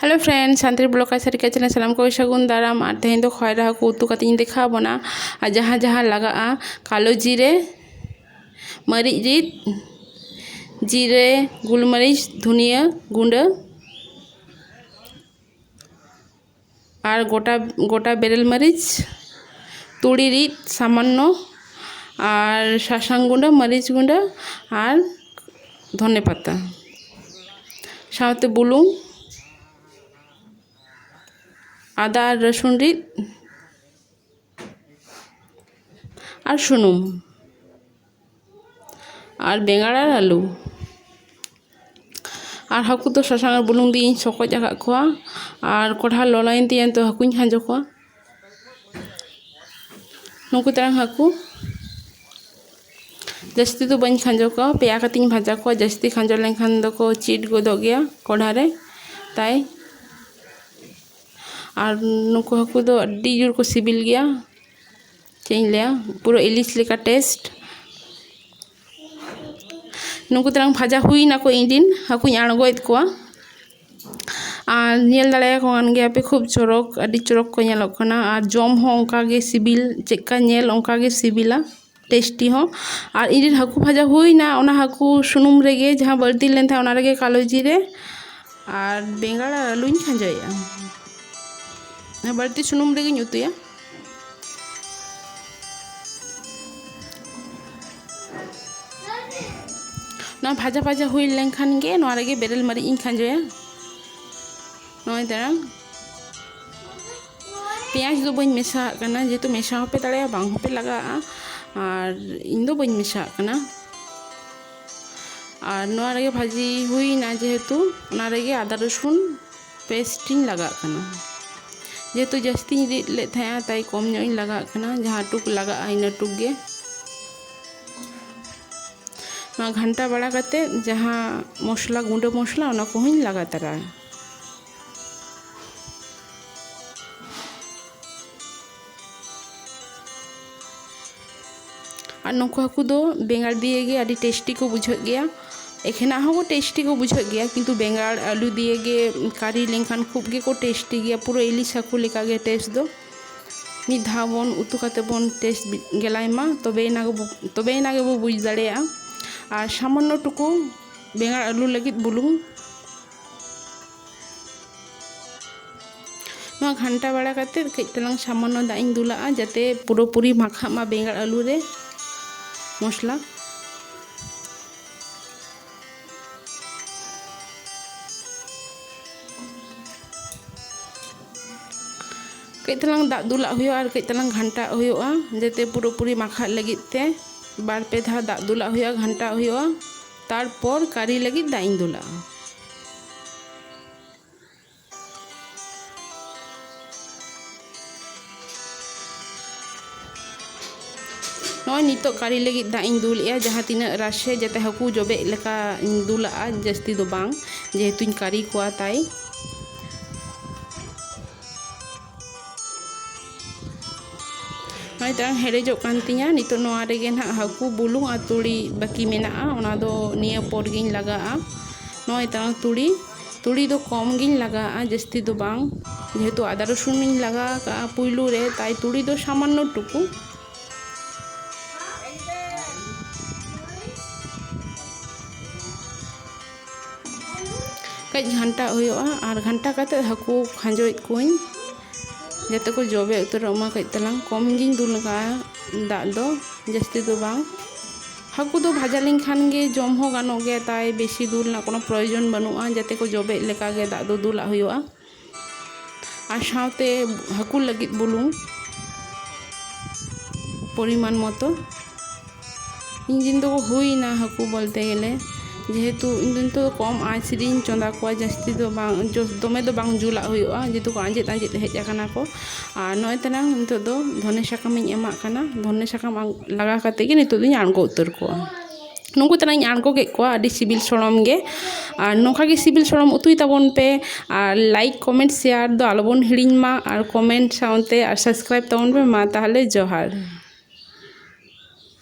hello friend Santali blog ᱠᱟᱪᱷᱟ ᱨᱮ ᱠᱟᱪᱷᱟ ᱥᱟᱱᱟᱢ ᱠᱚ ᱥᱟᱹᱜᱩᱱ ᱫᱟᱨᱟᱢ ᱟᱨ ᱛᱮᱦᱮᱧ ᱫᱚ ᱠᱷᱚᱭᱨᱟ ᱦᱟᱹᱠᱩ ᱩᱛᱩ ᱠᱟᱛᱮ ᱤᱧ ᱫᱮᱠᱷᱟᱣ ᱵᱚᱱᱟ ᱟᱨ ᱡᱟᱦᱟᱸ ᱡᱟᱦᱟᱸ ᱞᱟᱜᱟᱜᱼᱟ ᱠᱟᱞᱳ ᱡᱤᱨᱮ ᱢᱟᱹᱨᱤᱪ ᱨᱤᱫ ᱡᱤᱨᱮ ᱜᱩᱞᱢᱟᱹᱨᱤᱪ ᱫᱷᱩᱱᱤᱭᱟᱹ ᱜᱩᱸᱰᱟᱹ ᱟᱨ ᱜᱚᱴᱟ ᱜᱚᱴᱟ ᱵᱮᱨᱮᱞ ᱢᱟᱹᱨᱤᱪ ᱛᱩᱲᱤ ᱨᱤᱫ ᱥᱟᱢᱟᱱᱱᱚ ᱟᱨ ᱥᱟᱥᱟᱝ ᱜᱩᱰᱟᱹ ᱢᱟᱹᱨᱤᱪ ᱜᱩᱰᱟᱹ ᱟᱨ ᱫᱷᱚᱱᱮ ᱯᱟᱛᱟ ᱥᱟᱶᱛᱮ ᱵᱩᱞᱩᱝ ᱟᱫᱟ ᱟᱨ ᱨᱟᱹᱥᱩᱱ ᱨᱤᱫ ᱟᱨ ᱥᱩᱱᱩᱢ ᱟᱨ ᱵᱮᱸᱜᱟᱲ ᱟᱨ ᱟᱹᱞᱩ ᱟᱨ ᱦᱟᱹᱠᱩ ᱫᱚ ᱥᱟᱥᱟᱝ ᱟᱨ ᱵᱩᱞᱩᱝ ᱫᱤᱭᱮᱧ ᱥᱚᱠᱚᱡ ᱟᱠᱟᱫ ᱠᱚᱣᱟ ᱟᱨ ᱠᱚᱲᱦᱟ ᱞᱚᱞᱚᱭᱮᱱ ᱛᱤᱧᱟᱹ ᱱᱤᱛᱚᱜ ᱦᱟᱹᱠᱩᱧ ᱠᱷᱟᱸᱡᱚ ᱠᱚᱣᱟ ᱱᱩᱠᱩ ᱛᱟᱭᱚᱢ ᱦᱟᱹᱠᱩ ᱡᱟᱹᱥᱛᱤ ᱫᱚ ᱵᱟᱹᱧ ᱠᱷᱟᱸᱡᱚ ᱠᱚᱣᱟ ᱯᱮᱭᱟ ᱠᱟᱛᱮᱧ ᱵᱷᱟᱡᱟ ᱠᱚᱣᱟ ᱡᱟᱹᱥᱛᱤ ᱠᱷᱟᱸᱡᱚ ᱞᱮᱱᱠᱷᱟᱱ ᱫᱚᱠᱚ ᱪᱤᱴ ᱜᱚᱫᱚᱜ ᱜᱮᱭᱟ ᱠᱚᱲᱦᱟ ᱨᱮ ᱛᱟᱭ ᱟᱨ ᱱᱩᱠᱩ ᱦᱟᱹᱠᱩ ᱫᱚ ᱟᱹᱰᱤ ᱡᱳᱨ ᱠᱚ ᱥᱤᱵᱤᱞ ᱜᱮᱭᱟ ᱪᱮᱫ ᱤᱧ ᱞᱟᱹᱭᱟ ᱯᱩᱨᱟᱹ ᱤᱞᱤᱥ ᱞᱮᱠᱟ ᱴᱮᱥᱴ ᱱᱩᱠᱩ ᱛᱟᱞᱟᱝ ᱵᱷᱟᱡᱟ ᱦᱩᱭ ᱱᱟᱠᱚ ᱤᱧ ᱨᱮᱱ ᱦᱟᱹᱠᱩᱧ ᱟᱬᱜᱚᱭᱮᱫ ᱠᱚᱣᱟ ᱟᱨ ᱧᱮᱞ ᱫᱟᱲᱮᱭᱟᱠᱚ ᱠᱟᱱ ᱜᱮᱭᱟᱯᱮ ᱠᱷᱩᱵ ᱪᱚᱨᱚᱠ ᱟᱹᱰᱤ ᱪᱚᱨᱚᱠ ᱠᱚ ᱧᱮᱞᱚᱜ ᱠᱟᱱᱟ ᱟᱨ ᱡᱚᱢ ᱦᱚᱸ ᱚᱱᱠᱟ ᱜᱮ ᱥᱤᱵᱤᱞ ᱪᱮᱫ ᱞᱮᱠᱟ ᱧᱮᱞ ᱚᱱᱠᱟ ᱜᱮ ᱥᱤᱵᱤᱞᱟ ᱴᱮᱥᱴᱤ ᱦᱚᱸ ᱟᱨ ᱤᱧ ᱨᱮᱱ ᱦᱟᱹᱠᱩ ᱵᱷᱟᱡᱟ ᱦᱩᱭᱱᱟ ᱚᱱᱟ ᱦᱟᱹᱠᱩ ᱥᱩᱱᱩᱢ ᱨᱮᱜᱮ ᱡᱟᱦᱟᱸ ᱵᱟᱹᱲᱛᱤ ᱞᱮᱱ ᱛᱟᱦᱮᱸᱫ ᱚᱱᱟ ᱨᱮᱜᱮ ᱠᱟᱞᱳ ᱡᱤᱨᱮ ᱟᱨ ᱵᱮᱸᱜᱟᱲ ᱟᱨ ᱟᱹᱞᱩᱧ ᱠᱷᱟᱸᱡᱚᱭᱮᱫᱼᱟ ᱵᱟᱹᱲᱛᱤ ᱥᱩᱱᱩᱢ ᱨᱮᱜᱮᱧ ᱩᱛᱩᱭᱟ ᱱᱚᱣᱟ ᱵᱷᱟᱡᱟ ᱵᱷᱟᱡᱟ ᱦᱩᱭ ᱞᱮᱱᱠᱷᱟᱱ ᱜᱮ ᱱᱚᱣᱟ ᱨᱮᱜᱮ ᱵᱮᱨᱮᱞ ᱢᱟᱹᱨᱤᱪ ᱤᱧ ᱠᱷᱟᱸᱡᱚᱭᱟ ᱱᱚᱜᱼᱚᱭ ᱫᱟᱲᱟᱝ ᱯᱮᱸᱭᱟᱡᱽ ᱫᱚ ᱵᱟᱹᱧ ᱢᱮᱥᱟᱣᱟᱜ ᱠᱟᱱᱟ ᱡᱮᱦᱮᱛᱩ ᱢᱮᱥᱟ ᱦᱚᱸᱯᱮ ᱫᱟᱲᱮᱭᱟᱜᱼᱟ ᱵᱟᱝ ᱦᱚᱸᱯᱮ ᱞᱟᱜᱟᱜᱼᱟ ᱟᱨ ᱤᱧ ᱫᱚ ᱵᱟᱹᱧ ᱢᱮᱥᱟᱣᱟᱜ ᱠᱟᱱᱟ ᱟᱨ ᱱᱚᱣᱟ ᱨᱮᱜᱮ ᱵᱷᱟᱹᱡᱤ ᱦᱩᱭᱱᱟ ᱡᱮᱦᱮᱛᱩ ᱚᱱᱟ ᱨᱮᱜᱮ ᱟᱫᱟ ᱨᱚᱥᱩᱱ ᱯᱮᱥᱴ ᱤᱧ ᱞᱟᱜᱟᱜ ᱠᱟᱱᱟ ᱡᱮᱦᱮᱛᱩ ᱡᱟᱹᱥᱛᱤᱧ ᱨᱤᱫ ᱞᱮᱫ ᱛᱟᱦᱮᱸᱜᱼᱟ ᱛᱟᱭ ᱠᱚᱢ ᱧᱚᱜ ᱤᱧ ᱞᱟᱜᱟᱜ ᱠᱟᱱᱟ ᱡᱟᱦᱟᱸ ᱴᱩᱠ ᱞᱟᱜᱟᱜᱼᱟ ᱤᱱᱟᱹ ᱴᱩᱠ ᱜᱮ ᱱᱚᱣᱟ ᱜᱷᱟᱱᱴᱟ ᱵᱟᱲᱟ ᱠᱟᱛᱮ ᱡᱟᱦᱟᱸ ᱢᱚᱥᱞᱟ ᱜᱩᱸᱰᱟᱹ ᱢᱚᱥᱞᱟ ᱚᱱᱟ ᱠᱚᱦᱚᱸᱧ ᱞᱟᱜᱟ ᱛᱟᱨᱟᱭᱟ ᱟᱨ ᱱᱩᱠᱩ ᱦᱟᱹᱠᱩ ᱫᱚ ᱵᱮᱸᱜᱟᱲ ᱫᱤᱭᱮ ᱜᱮ ᱟᱹᱰᱤ ᱴᱮᱥᱴᱤ ᱠᱚ ᱵᱩᱡᱷᱟᱹᱜ ᱜᱮᱭᱟ ᱮᱠᱷᱮᱱᱟᱜ ᱦᱚᱸ ᱴᱮᱥᱴᱤ ᱠᱚ ᱵᱩᱡᱷᱟᱹᱜ ᱜᱮᱭᱟ ᱠᱤᱱᱛᱩ ᱵᱮᱸᱜᱟᱲ ᱟᱹᱞᱩ ᱫᱤᱭᱮ ᱜᱮ ᱠᱟᱨᱤ ᱞᱮᱱᱠᱷᱟᱱ ᱠᱷᱩᱵ ᱜᱮᱠᱚ ᱴᱮᱥᱴᱤ ᱜᱮᱭᱟ ᱯᱩᱨᱟᱹ ᱤᱞᱤᱥ ᱦᱟᱹᱠᱩ ᱞᱮᱠᱟ ᱜᱮ ᱴᱮᱥᱴ ᱫᱚ ᱢᱤᱫ ᱫᱷᱟᱣ ᱵᱚᱱ ᱩᱛᱩ ᱠᱟᱛᱮ ᱵᱚᱱ ᱴᱮᱥᱴ ᱜᱮᱞᱟᱭ ᱢᱟ ᱛᱚᱵᱮ ᱮᱱᱟ ᱜᱮᱵᱚ ᱛᱚᱵᱮ ᱮᱱᱟ ᱜᱮᱵᱚ ᱵᱩᱡᱽ ᱫᱟᱲᱮᱭᱟᱜᱼᱟ ᱟᱨ ᱥᱟᱢᱟᱱᱱᱚ ᱴᱩᱠᱩ ᱵᱮᱸᱜᱟᱲ ᱟᱹᱞᱩ ᱞᱟᱹᱜᱤᱫ ᱵᱩᱞᱩᱝ ᱱᱚᱣᱟ ᱜᱷᱟᱱᱴᱟ ᱵᱟᱲᱟ ᱠᱟᱛᱮ ᱠᱟᱹᱡ ᱛᱟᱞᱟᱝ ᱥᱟᱢᱟᱱᱱᱚ ᱫᱟᱜ ᱤᱧ ᱫᱩᱞᱟᱜᱼᱟ ᱡᱟᱛᱮ ᱯᱩᱨᱟᱹᱯᱩᱨᱤ ᱢᱟᱠᱷᱟᱜ ᱢᱟ ᱵᱮᱸᱜᱟᱲ ᱟᱹᱞᱩ ᱨᱮ ᱢᱚᱥᱞᱟ ᱠᱟᱹᱡ ᱛᱟᱞᱟᱝ ᱫᱟᱜ ᱫᱩᱞᱟᱜ ᱦᱩᱭᱩᱜᱼᱟ ᱟᱨ ᱠᱟᱹᱡ ᱛᱟᱞᱟᱝ ᱜᱷᱟᱱᱴᱟᱜ ᱦᱩᱭᱩᱜᱼᱟ ᱡᱟᱛᱮ ᱯᱩᱨᱟᱹᱯᱩᱨᱤ ᱢᱟᱠᱷᱟᱜ ᱞᱟᱹᱜᱤᱫ ᱛᱮ ᱵᱟᱨ ᱯᱮ ᱫᱷᱟᱣ ᱫᱟᱜ ᱫᱩᱞᱟᱜ ᱦᱩᱭᱩᱜᱼᱟ ᱜᱷᱟᱱᱴᱟᱜ ᱦᱩᱭᱩᱜᱼᱟ ᱛᱟᱨᱯᱚᱨ ᱠᱟᱨᱤ ᱞᱟᱹᱜᱤᱫ ᱫᱟᱜ ᱤᱧ ᱫᱩᱞᱟᱜᱼᱟ ᱱᱚᱜᱼᱚᱭ ᱱᱤᱛᱚᱜ ᱠᱟᱨᱤ ᱞᱟᱹᱜᱤᱫ ᱫᱟᱜ ᱤᱧ ᱫᱩᱞᱮᱜᱼᱟ ᱡᱟᱦᱟᱸ ᱛᱤᱱᱟᱹᱜ ᱨᱟᱥᱮ ᱡᱟᱛᱮ ᱦᱟᱹᱠᱩ ᱡᱚᱵᱮᱜ ᱞᱮᱠᱟ ᱤᱧ ᱫᱩᱞᱟᱜᱼᱟ ᱡᱟᱹᱥᱛᱤ ᱫᱚ ᱵᱟᱝ ᱡᱮᱦᱮᱛᱩᱧ ᱠᱟᱨᱤ ᱠᱚᱣᱟ ᱛᱟᱭ ᱱᱚᱜᱼᱚᱭ ᱛᱟᱝ ᱦᱮᱰᱮᱡᱚᱜ ᱠᱟᱱ ᱛᱤᱧᱟᱹ ᱱᱤᱛᱚᱜ ᱱᱚᱣᱟ ᱨᱮᱜᱮ ᱱᱟᱦᱟᱜ ᱦᱟᱹᱠᱩ ᱵᱩᱞᱩᱝ ᱟᱨ ᱛᱩᱲᱤ ᱵᱟᱹᱠᱤ ᱢᱮᱱᱟᱜᱼᱟ ᱚᱱᱟ ᱫᱚ ᱱᱤᱭᱟᱹ ᱯᱚᱨ ᱜᱤᱧ ᱞᱟᱜᱟᱜᱼᱟ ᱱᱚᱜᱼᱚᱭ ᱛᱟᱝ ᱛᱩᱲᱤ ᱛᱩᱲᱤ ᱫᱚ ᱠᱚᱢ ᱜᱤᱧ ᱞᱟᱜᱟᱜᱼᱟ ᱡᱟᱹᱥᱛᱤ ᱫᱚ ᱵᱟᱝ ᱡᱮᱦᱮᱛᱩ ᱟᱫᱟ ᱨᱚᱥᱩᱱ ᱤᱧ ᱞᱟᱜᱟᱣ ᱠᱟᱜᱼᱟ ᱯᱩᱭᱞᱩ ᱨᱮ ᱛᱟᱭ ᱛᱩᱲᱤ ᱫᱚ ᱥᱟᱢᱟᱱᱱᱚ ᱴᱩᱠᱩ ᱠᱟᱹᱡ ᱜᱷᱟᱱᱴᱟ ᱦᱩᱭᱩᱜᱼᱟ ᱟᱨ ᱜᱷᱟᱱᱴᱟ ᱠᱟᱛᱮ ᱦᱟᱹᱠᱩ ᱠᱷᱟᱸᱡᱚᱭᱮᱫ ᱠᱚᱣᱟᱹᱧ ᱡᱟᱛᱮ ᱠᱚ ᱡᱚᱵᱮ ᱩᱛᱟᱹᱨᱚᱜ ᱢᱟ ᱠᱟᱹᱡ ᱛᱟᱞᱟᱝ ᱠᱚᱢ ᱜᱤᱧ ᱫᱩᱞ ᱟᱠᱟᱫᱼᱟ ᱫᱟᱜ ᱫᱚ ᱡᱟᱹᱥᱛᱤ ᱫᱚ ᱵᱟᱝ ᱦᱟᱹᱠᱩ ᱫᱚ ᱵᱷᱟᱡᱟ ᱞᱮᱱᱠᱷᱟᱱ ᱜᱮ ᱡᱚᱢ ᱦᱚᱸ ᱜᱟᱱᱚᱜ ᱜᱮᱭᱟ ᱛᱟᱭ ᱵᱮᱥᱤ ᱫᱩᱞ ᱨᱮᱱᱟᱜ ᱠᱳᱱᱳ ᱯᱨᱚᱭᱳᱡᱚᱱ ᱵᱟᱹᱱᱩᱜᱼᱟ ᱡᱟᱛᱮ ᱠᱚ ᱡᱚᱵᱮᱜ ᱞᱮᱠᱟ ᱜᱮ ᱫᱟᱜ ᱫᱚ ᱫᱩᱞᱟᱜ ᱦᱩᱭᱩᱜᱼᱟ ᱟᱨ ᱥᱟᱶᱛᱮ ᱦᱟᱹᱠᱩ ᱞᱟᱹᱜᱤᱫ ᱵᱩᱞᱩᱝ ᱯᱚᱨᱤᱢᱟᱱ ᱢᱚᱛᱚ ᱤᱧ ᱫᱤᱱ ᱫᱚ ᱦᱩᱭᱱᱟ ᱦᱟᱹᱠᱩ ᱵᱚᱞᱛᱮ ᱜᱮᱞᱮ ᱡᱮᱦᱮᱛᱩ ᱤᱧ ᱫᱚ ᱱᱤᱛᱚᱜ ᱠᱚᱢ ᱟᱸᱪ ᱨᱤᱧ ᱪᱚᱸᱫᱟ ᱠᱚᱣᱟ ᱡᱟᱹᱥᱛᱤ ᱫᱚ ᱵᱟᱝ ᱫᱚᱢᱮ ᱫᱚ ᱵᱟᱝ ᱡᱩᱞᱟᱜ ᱦᱩᱭᱩᱜᱼᱟ ᱡᱮᱦᱮᱛᱩ ᱠᱚ ᱟᱸᱡᱮᱫ ᱟᱸᱡᱮᱫ ᱦᱮᱡ ᱟᱠᱟᱱᱟ ᱠᱚ ᱟᱨ ᱱᱚᱜᱼᱚᱭ ᱛᱟᱞᱟᱝ ᱱᱤᱛᱚᱜ ᱫᱚ ᱫᱷᱚᱱᱮ ᱥᱟᱠᱟᱢᱤᱧ ᱮᱢᱟᱜ ᱠᱟᱱᱟ ᱫᱷᱚᱱᱮ ᱥᱟᱠᱟᱢ ᱞᱟᱜᱟᱣ ᱠᱟᱛᱮᱫ ᱜᱮ ᱱᱤᱛᱚᱜ ᱫᱚᱧ ᱟᱬᱜᱚ ᱩᱛᱟᱹᱨ ᱠᱚᱣᱟ ᱱᱩᱠᱩ ᱛᱟᱱᱟᱜ ᱤᱧ ᱟᱬᱜᱚ ᱠᱮᱫ ᱠᱚᱣᱟ ᱟᱹᱰᱤ ᱥᱤᱵᱤᱞ ᱥᱚᱲᱚᱢ ᱜᱮ ᱟᱨ ᱱᱚᱝᱠᱟ ᱜᱮ ᱥᱤᱵᱤᱞ ᱥᱚᱲᱚᱢ ᱩᱛᱩᱭ ᱛᱟᱵᱚᱱ ᱯᱮ ᱟᱨ ᱞᱟᱭᱤᱠ ᱠᱚᱢᱮᱱᱴ ᱥᱮᱭᱟᱨ ᱫᱚ ᱟᱞᱚ ᱵᱚᱱ ᱦᱤᱲᱤᱧ ᱢᱟ ᱟᱨ ᱠᱚᱢᱮᱱᱴ ᱥᱟᱶᱛᱮ ᱟᱨ ᱥᱟᱵᱥᱠᱨᱟᱭᱤᱵᱽ ᱛᱟᱵᱚᱱ ᱯᱮ ᱢᱟ ᱛᱟᱦᱚᱞᱮ ᱡᱚᱦᱟᱨ